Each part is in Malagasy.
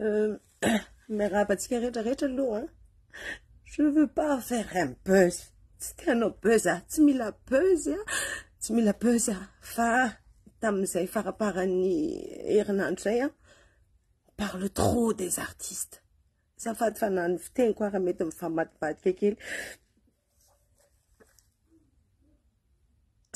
Euh, mais rabatsika rehetrarehetra aloha hein. je veux pas faire un buzz tsy tianao buzz a ah. tsy mila buzz a ah. tsy mila buzz a ah. fa tamin'izay faraparan'ny herinandro zay a parle trop des artistes Azafady fa na ny fiteniko ara mety mifamadibadika kely.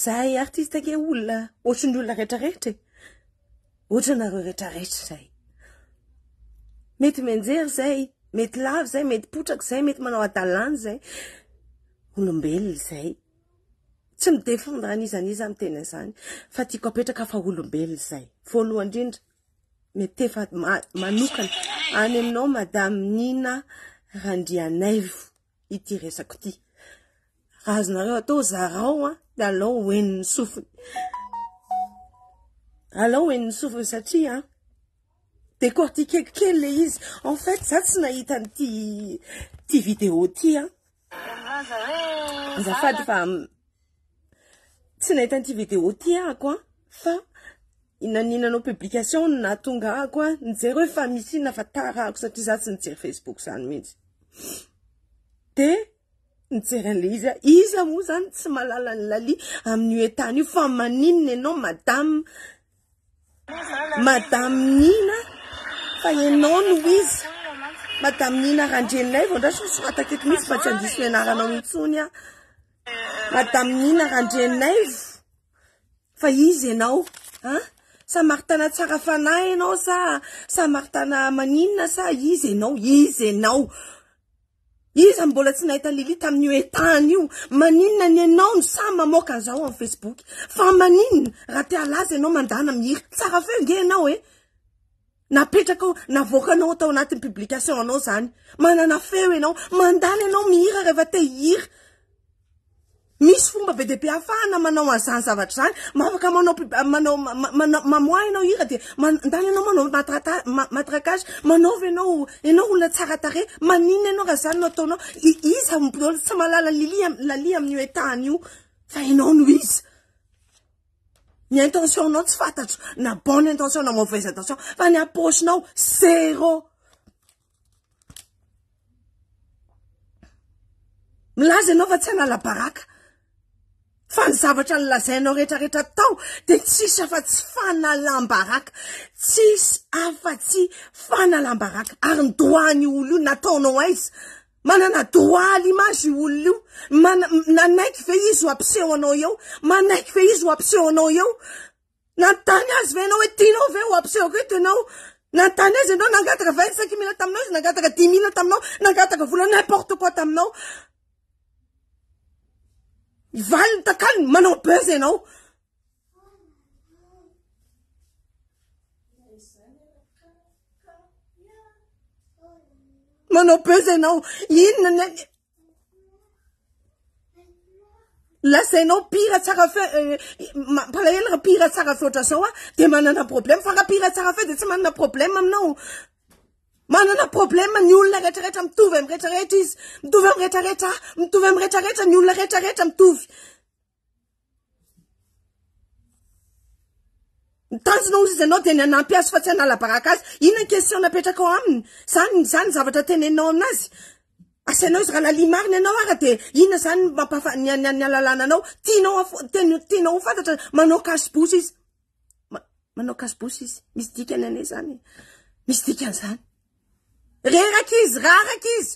Zahay artiste ake olona ohatrin'ny olona rehetrarehetra e. Ohatranareo rehetrarehetra zay. Mety mianjery zay, mety lava zay, mety potraka zay, mety manao adalana zay. Olombelona zay. Tsy mi-défendre an'iza n'iza amin'ny teny an'izany fa tiako apetraka fa olombelona zay. Voalohany indrindra Metefa manokana any aminao Madame Nina Randrianaivo ity resako ity. Raha azonareo atao zarao an, dia alao ho henon'ny sofiny. Alao ho henon'ny sofiny satria an, décortiquer kely le izy. En fait, za tsy nahita an'ity vidéo ity an. Azafady fa tsy nahita an'ity vidéo ity aho ko an, fa naninanao publication no nahatonga ahy ko an, nijery hoe fa misy inona fa tarahako satria za tsy mijery facebook zany mihitsy, de nijery an'ilay izy aho, iza moa zany tsy mahalala an'i Lalie amin'io entana io fa maninona ianao madame, Madame Nina fa enao no izy Madame Nina Randrianilay vao ndray soratako eto mihitsy fa tsy handiso ny anaranao intsony aho Madame Nina Randrianaivo fa izy ianao an samaritana tsara fanahy ianao sa samaritana maninona sa izy ianao izy ianao Iza no mbola tsy nahita Lily tamin'io etahan io? Maninona ny enao no sahy mamoaka an'izao amin'ny Facebook? Fa maninona raha te halaza enao mandana mihira? Tsara feo nge enao e! Napetrakao, navoakanao tao anatin'ny publication anao zany. Manana feo enao. Mandana enao mihira rehefa te hihira. Misy fomba be dia be ahafahana manao an'izany zavatra izany. Mba afaka manao pub- ah, manao ma- ma- manao- mamoaha ianao hira dia man- mandalo ianao manao matrata- ma- matraquage, manaova ianao ianao olona tsara tarehy. Maninona ianao raha izany no ataonao? I- Iza no mbola tsy mahalala ny lilia am- lalia amin'io état-ny io fa ianao no iza? Ny intention-nao tsy fantatro na bonne intention na mauvaise intention fa ny am-paosinao zéro. Milaza ianao fa tsy hanala baraka fa ny zavatra nolazainao rehetrarehetra tao dia tsisy afa-tsy fanalam-baraka, tsisy afa-tsy fanalam-baraka ary ny doany olo io nataonao aiza? Manana doany l'image io olo io, mana- nanaiky ve izy ho ampiseho anao eo? Manaiky ve izy ho ampiseho anao eo? Nanontany azy ve ianao hoe tianao ve ho ampisehoko eto ianao? Nanontany azy ianao nangataka vingt cinq mille taminao izy, nangataka dix mille taminao, nangataka vola n'importe quoi taminao. Ny valiny takalony manao buzz ianao. Manao buzz ianao. Inona ny lazainao mpihira tsara feo eh, mampalahelo raha mpihira tsara feo ohatran'izao a de manana problème fa raha mpihira tsara feo de tsy manana problème aminao manana problème ny olona rehetrarehetra mitovy am rehetrarehetra izy mitovy am rehetrarehetra a mitovy am rehetrarehetra ny olona rehetrarehetra mitovy Ny tanjona ozy ianao dia ny hanampy azy fa tsy hanala baraka azy. Inona ny question napetrakao aminy? Zany zany zavatra teneninao aminazy? Asainao izy raha lalia marina ianao ara dia inona zany ny mampahafa- ny ny halalana anao? Tianao haf- ten- tianao ho fantatra manao cache bouche izy. Ma- manao cache bouche izy. Misy dikany anie zany e. Misy dikany zany. Reraka izy, raraka izy.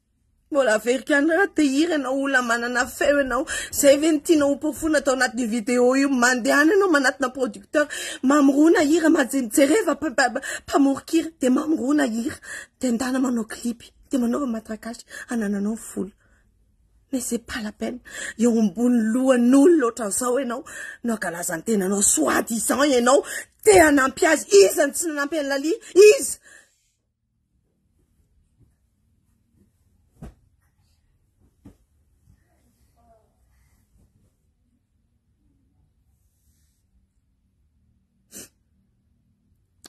Mbola averiko ihany raha te hira ianao olona manana feo ianao zay ve no tianao hoporofoina atao anatin'io vidéo io mandehana ianao manatona producteur mamorona hira jereva mpamoron-kira de mamorona hira de ndana manao clip de manaova matraquage hanananao vola mais c'est pas la peine eo ambony lohan'olona ohatran'izao ianao no hankalaza ny tenanao soit disant ianao te hanampy azy iza no tsy nanampy an'i Lalia iza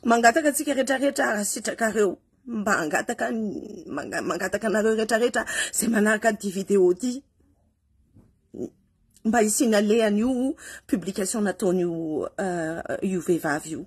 mangataka antsika rehetrarehetra arasitrakareo mba angataka mangataka anareo rehetrarehetra zay manaraka ty video ty mba hisinalehan'io publication nataon'io euh, io vehivavy io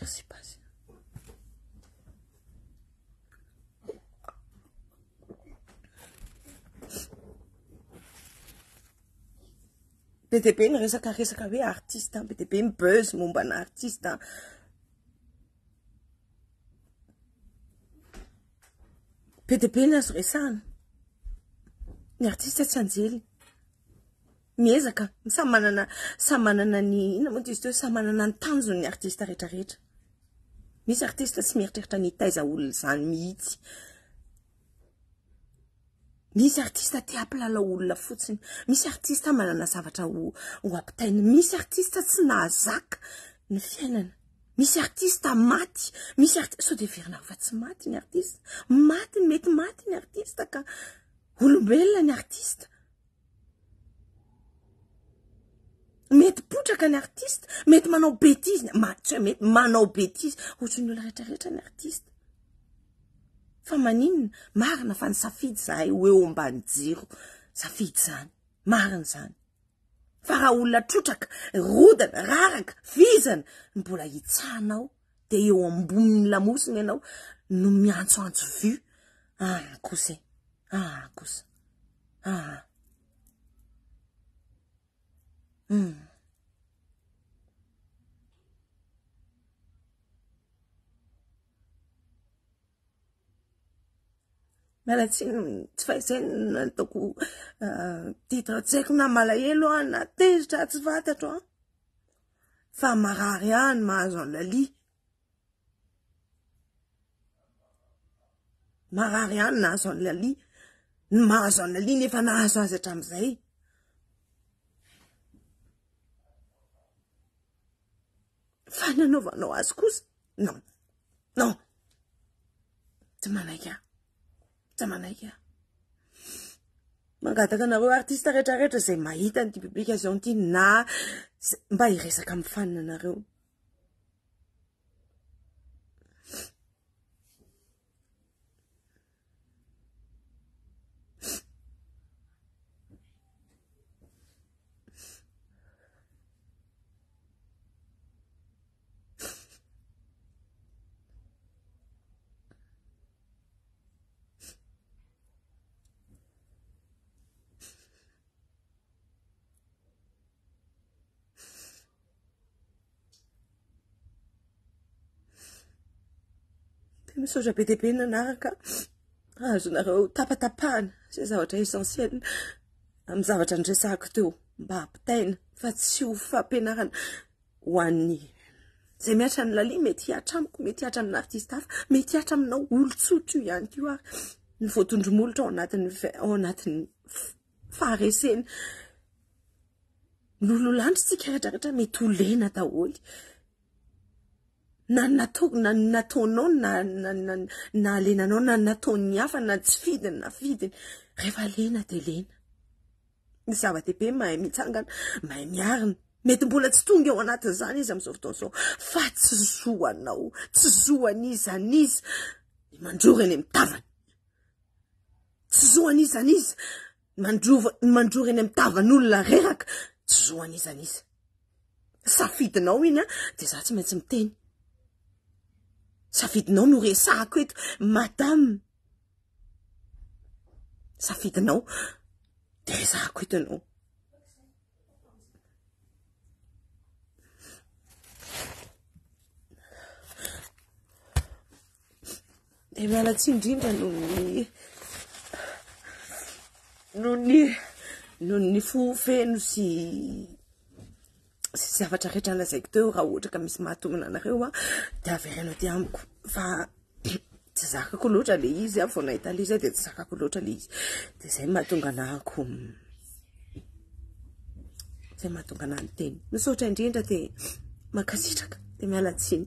Merci Paz. Be dia be ny resaka resaka hoe artiste, be dia be ny buzz momba ny artiste. Be dia be ny azo resahana. Ny artiste tsy anjely. Miezaka, samy manana samy manana ny inona moa izy teo, samy manana ny tanjony ny artista rehetra rehetra. Misy artista tsy mieritreritra ny hitaiza olona izany mihitsy. Misy artista te hampilalao olona fotsiny, misy artista manana zavatra ho ho ampitaina, misy artista tsy nahazaka ny fiainana, misy artista maty, misy artista sao dia heverina fa tsy maty ny artista, maty ny mety maty ny artista ka. Olombelona ny artista. Mety potraka ny artista, mety manao betizy, ma tsy hoe mety manao betizy, ohatry ny olona rehetra rehetra ny artista. Fa maninona? Marina fa ny safidy zahay ho eo ambany jiro, safidy zany. Marina zany. Fa raha olona trotraka, rodana, raraka, vizana, mbola hitsahanao dia eo ambonin'ny lamosina ianao no miantsoantso vue ah kosa e ah kosa ah hmm. miala tsiny tsy faizay nataoko ah, titre tsy haiko na malahelo ah, na tezitra ah, tsy fantatro an ah. fa marary ahy ny mahazo an'i Laly. Marary ahy ny nahazo an'i Laly. Ny mahazo an'i Laly nefa nahazo azy hatramin'izay. Fa ny anaovanao azy kosa, non, non, tsy manaiky ahy. Tsy manaiky aho. Mangataka anareo artiste rehetrarehetra izay mahita an'ity publication ity na mba hiresaka amin'ny fanina anareo. Misaotra be dia be nanaraka azonareo tapatapahana izay zavatra essentiel amin'ny zavatra niresahako teo mba hampitaina fa tsy ho fampianarana Ho an'ny izay mihatra ny Lalia, mety hihatra amiko, mety hihatra amin'ny artista hafa, mety hihatra aminao olon-tsotra io ihany koa ary ny voatondromolotra ao anatin'ny ao anatin'ny fahareseny. Lololandry tsika retraretra mety ho lena daholo na natao na nataonao na na lenanao na nataon'ny hafa na tsy fidiny na fidiny rehefa lena dia lena Ny zava-dehibe mahay mitsangana, mahay miarina. Mety mbola tsy tonga eo anatin'izany izy amin'izao fotoana izao, fa tsy zo anao, tsy zo an'iza an'iza ny mandrora eny amin'ny tavany. Tsy zo an'iza an'iza ny mandrova ny mandrora eny amin'ny tavan'olona reraka, tsy zo an'iza an'iza. Safidinao iny an, dia za tsy maintsy miteny. Safidinao no resahako eto, madame. safidinao de ezahako eto ianao de miala tsy indrindra noho ny noho ny noho ny fo feno sy sy zavatra rehetra lazaiko teo raha ohatra ka misy mahatomina anareo a de avereno aty amiko fa tsy zakako loatra le izy a vao nahita le izy a de tsy zakako loatra le izy de zay mahatonga anahako zay mahatonga anah ny teny misaotra indrindra de mankasitraka de miala tsiny